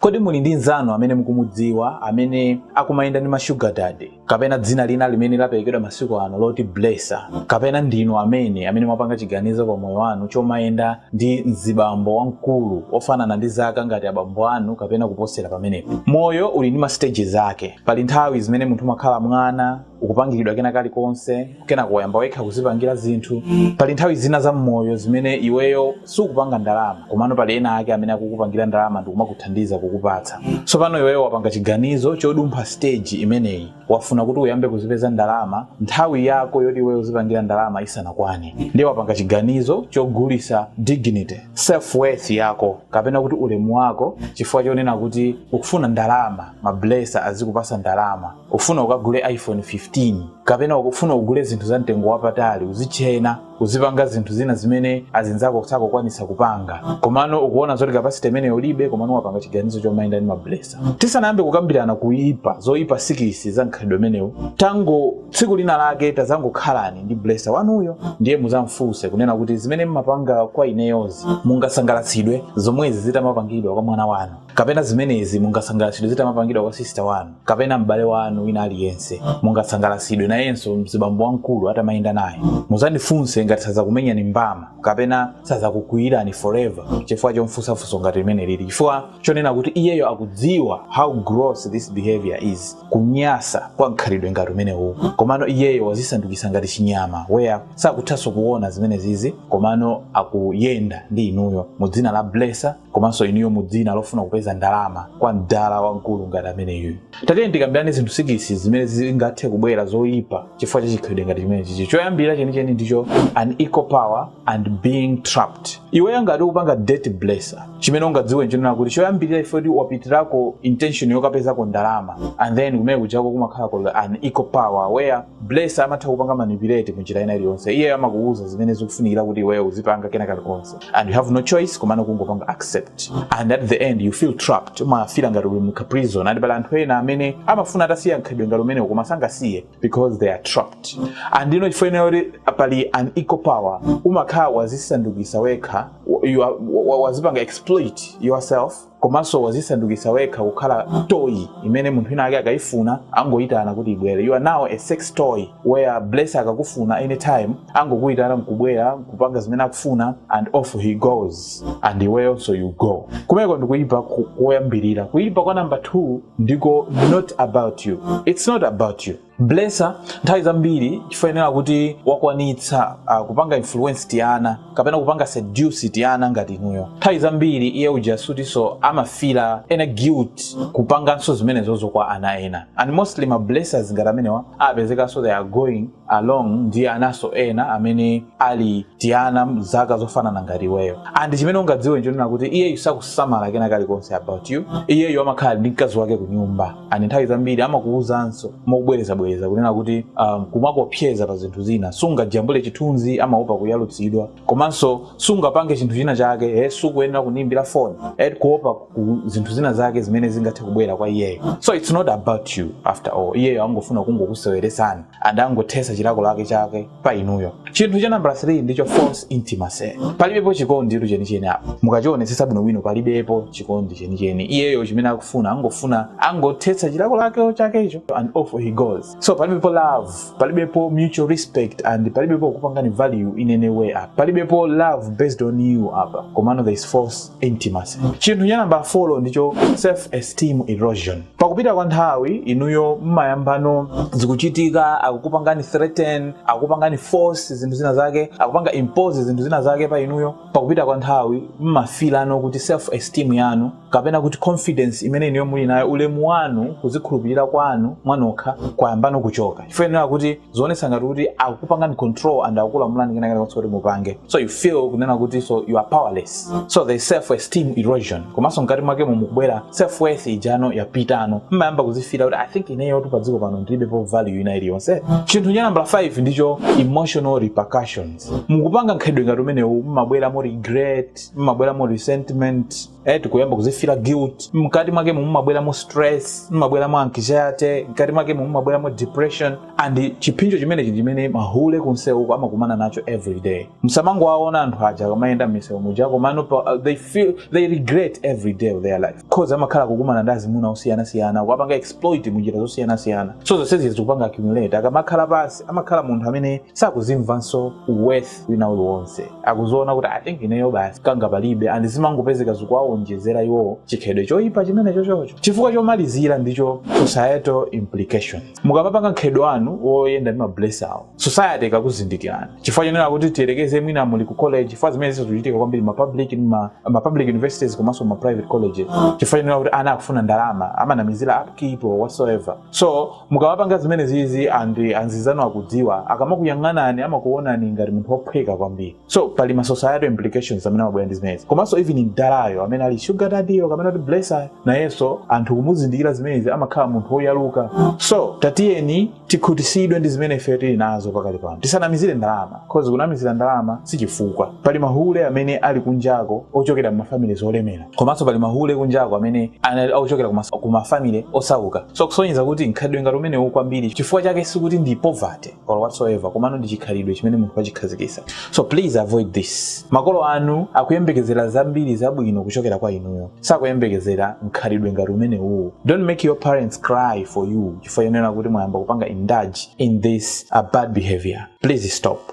Kodi muli ndi mnzanu amene mukumudziwa amene akumayenda ndi ma sugar daddy kapena dzina lina limene laperekedwa masiku ano loti blesser kapena ndinu nomwe amene mwapanga chiganizo pa moyo wanu chomayenda ndi mzibambo wamkulu ofanana ndi zaka ngati abambo anu kapena kuposera pamenepo? Moyo uli ndi ma stages ake. Pali nthawi zimene munthu umakhala mwana, ukupangiridwa kena kalikonse kenako wayamba wekha kuzipangira zinthu pali nthawi zina za mmoyo zimene iweyo sukupanga ndalama komano pali ena ake amene akukupangira ndalama ndikumakuthandiza kukupatsa tsopano iweyo wapanga chiganizo chodumpha stage imeneyi wafuna kuti uyambe kuzipeza ndalama nthawi yako yoti iweyo uzipangira ndalama isanakwane ndiye wapanga chiganizo chogulisa dignity self worth yako kapena kuti ulemu wako chifukwa chonena kuti ukufuna ndalama mablesa azikupasa ndalama ufuna ukagule iphone 15 kapena ukufuna ugule zinthu za mtengo wapatali uzitchena uzipanga zinthu zina zimene azinzako sakukwanisa kupanga komano ukuona zoti capacity imeneyo ulibe komano wapanga chiganizo chomayenda ndi mablesa tisanayambe kukambirana kuipa zoipa six za mkhalidwe umenewu tangoti tsiku lina lake tazangokhalani ndi blesa wanuyo ndiye muzamfunse kunena kuti zimene mmapanga kwa ineyozi mungasangalatsidwe zomwezi zitamapangidwa kwa mwana wanu kapena zimenezi mungasangalatsidwe zitamapangidwa kwa sisita wanu kapena m'bale wanu wina aliyense mungasangalatsidwe nayenso mzibambo wamkulu atamayenda naye muzamfunse ngati sadzakumenyani mbama kapena sadzakukwiyirani forever chifukwa chomfunsa funso ngati limene lili chifukwa chonena kuti iyeyo akudziwa how gross this behavior is kunyansa kwa mkhalidwe ngati umenewu komano iyeyo wazisandukisa ngati chinyama where sakuthanso kuona zimene zizi komano akuyenda ndi inuyo mu dzina la blesa komanso inuyo mu dzina lofuna kupeza ndalama kwa mdala wamkulu ngati ameneyu tatiyeni tikambirane zinthu six zimene zingathe kubwera zoyipa chifukwa cha chikhalidwe ngati chimene chichi choyambirira chenicheni ndicho unequal power and being trapped iweyo ngati ukupanga date blesser chimene ungadziwe nchonena kuti choyambirira is fact yoti wapitirako intention yokapezako ndalama and then kumene kujako kumakhala kuli unequal power where Blesser amatha kupanga manipulate munjira ina iliyonse iyeyo amakuuza zimene zikufunikira kuti iweyo uzipanga kena kalikonse and you have no choice komano kungopanga accept and at the end you feel trapped umafila ngati uli mu prison and pali anthu ena amene amafuna atasiya mkhalidwe ngati umenewo koma sangasiye because they are trapped and no chifukwa chonena kuti pali unequal power umakhala wazisandukisa wekha you are- wa- wa- wazipanga exploit yourself komanso wazisandukisa wekha kukhala toy imene munthu wina ake akaifuna angoitana kuti ibwere you are now a sex toy where blesser akakufuna anytime angokuitana nkubwera nkupanga zimene akufuna and off he goes and iweyonso you go kumeneko ndikuipa koyambirira kuipa kwa number 2 ndiko not about you it's not about you Blesser nthawi zambiri chifukwa chonena kuti wakwanitsa uh, kupanga influence tiana kapena kupanga seduce tiana ngati inuyo nthawi zambiri iye uja sikutinso amafila ena guilt kupanganso zimenezozo kwa ana ena and mostly ma blessers ngati amenewa apezekanso they are going along ndi ananso ena amene ali tiana zaka zofanana ngati iweyo and chimene ungadziwe nchonena kuti iyeyu sakusamala kena kalikonse about you iyeyu amakhala ndi mkazi wake ku nyumba and nthawi zambiri amakuwuzanso mobwerezabwereza kunena kuti um, kumakopseza pa zinthu zina sungajambule chithunzi amaopa kuyalutsidwa komanso sungapange chinthu china chake eh, sukuyenera kunimbira foni eh, kuopa ku zinthu zina zake zimene zingathe kubwera kwa iyeyo so it's not about you after all iyeyo angofuna kungokuseweretsani and angothetsa chilako lake chake pa inuyo chinthu cha nambala 3 ndicho false intimacy palibepo chikonditu chenicheni apa mukachionetsetsa bwinobwino palibepo chikondi chenicheni iyeyo chimene akufuna angofuna angothetsa chilako lake chakecho and off he goes so palibepo love palibepo mutual respect and palibepo kupangani value in any way apa palibepo love based on you apa komano there is false intimacy chinthu cha namba 4 ndicho self esteem erosion pakupita kwa nthawi inuyo mmayambano zikuchitika akukupangani threaten akukupangani force zinthu zina zake akupanga impose zinthu zina zake pa inuyo pakupita kwa nthawi mmafilano kuti self esteem yanu kapena kuti confidence imene inuyo muli nayo ulemu wanu kuzikhulupirira kwanu mwanokha kwayambano kuchoka chifukwa kuti zionetsa ngati kuti akukupangani control and akukulamulani kenakalikonse kuti mupange so you feel kunena kutinso you are powerless so there is self esteem erosion komanso mkati mwakemo mukubwera self worth ija nayo yapitano mmayamba kuzifila kuti i think ineyotu padziko pano ndilibepo value ina iliyonse chinthu cha nambala 5 ndicho emotional repercussions mukupanga mkhalidwe ngati umenewu mmabweramo regret mmabweramo resentment eh, mukuyamba kuzifila guilt mkati mwakemo mumabweramo stress mumabweramo anxiety mkati mwakemo mumabweramo depression and chipsinjo chimenechi chimene mahule kumsewuko amakumana nacho every day musamangowaona anthu aja akamayenda m'misewu muja komano pa- uh, they feel they regret every day of their life cause amakhala akukumana ndi azimuna osiyanasiyana kuwapanga exploit munjira zosiyanasiyana so zonsezi zikupanga accumulate akamakhala pansi amakhala munthu amene sakuzimvanso worth wina uliwonse akuziona kuti i think ineyo basi kanga palibe and zimangopezeka zikuwawonjezera iwowo chikhalidwe choyipa chimene chochocho chifukwa chomalizira ndicho societal implications mukamapanga mkhalidwe wanu woyenda ndi mablesser wo society ikakuzindikirani chifukwa chonena kuti tiyerekeze mwina muli ku college chifukwa zimenezi zikuchitika kwambiri ma public ndi ma, ma public universities komanso ma private colleges chifukwa chonena kuti ana akufuna ndalama amanamizira upkeep or whatsoever so Mukawapanga zimenezizi and amzanu akudziwa, akamakuyang'anani amakuonani ngati munthu ophweka kwambiri. So pali ma societal implications amene amabwera ndi zimenezi. Komanso even mdalayo amene ali sugar daddy yo kapena kuti blesser nayenso anthu kumuzindikira zimenezi amakhala munthu oyaluka. So tatiyeni tikhutisidwe ndi zimene ifeyo tili nazo pakali pano. Tisanamizire ndalama cause kunamizira ndalama sichifukwa. Pali mahule amene ali kunjako ochokera mma families olemera. komanso pali mahule kunjako amene akuchokera kuma, kuma family osauka so kusonyeza kuti mkhalidwe ngati umenewuwo kwambiri chifukwa chake sikuti ndi poverty or whatsoever komano ndi chikhalidwe chimene munthu wachikhazikisa so please avoid this makolo anu akuyembekezera zambiri zabwino kuchokera kwa inuyo sakuyembekezera mkhalidwe ngati umenewuwo don't make your parents cry for you chifukwa chonena kuti mwayamba kupanga indulge in this uh, bad behavior please stop